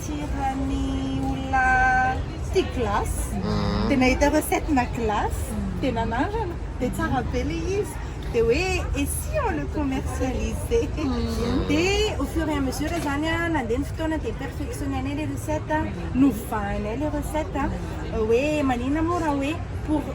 Tiran'ny olona tia glace, dia nahita recette na glace, dia nanandrana, dia tsara be ilay izy, dia hoe et si on le commercialisait? Dia au fur et à mesure izany an, nandeha ny fotoana dia perfectionner-nay ilay recette, novahinay ilay recette hoe maninona moa raha hoe pour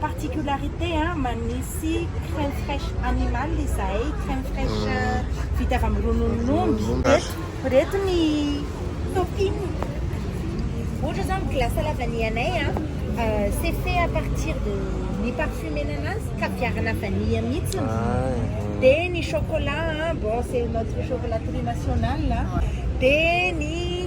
Particularité an, manisy crème fraiche animal izahay, crème fraiche vita avy amin'ny rononon'omby. Ireto ny topping, ohatra izao ny glace à la vanille anay an, c'est fait à partir de ni-parfumer-na anazy, kaviarana vanille mihitsy ny vy, dia ny chocolat an, bon c'est notre chocolat tous les national an, dia ny.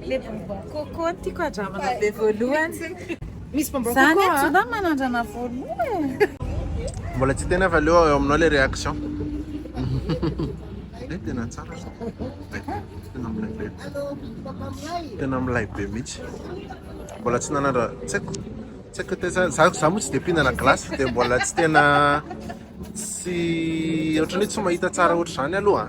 Le bonbon coco no tiako andramana be voalohany. Misy bonbon coco. Zany ato zany manandrana voalohany. Mbola tsy tena fa leo eo aminao le réaction. Eh tena tsara. Tena milay be. Tena milay be mihitsy. Mbola tsy nanandra tsy haiko. Tsy haiko tena za za moa tsy de pinana glace de mbola tsy tena tsy ohatran'ny tsy mahita tsara ohatr'izany aloha.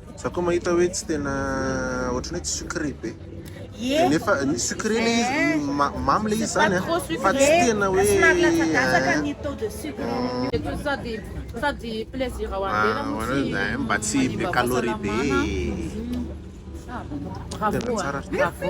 Za koa mahita hoe tsy tena ohatran'ny hoe tsy sucré be. Dia nefa ny sucré le izy ma- mamy le izy zany an, fa tsy tena hoe Eto sady sady plaisir ho an'ny tena no tsy Ah, mba tsy be manimbavantsana calorie be. manana. Ah, Tena bravo, tsara. bravo.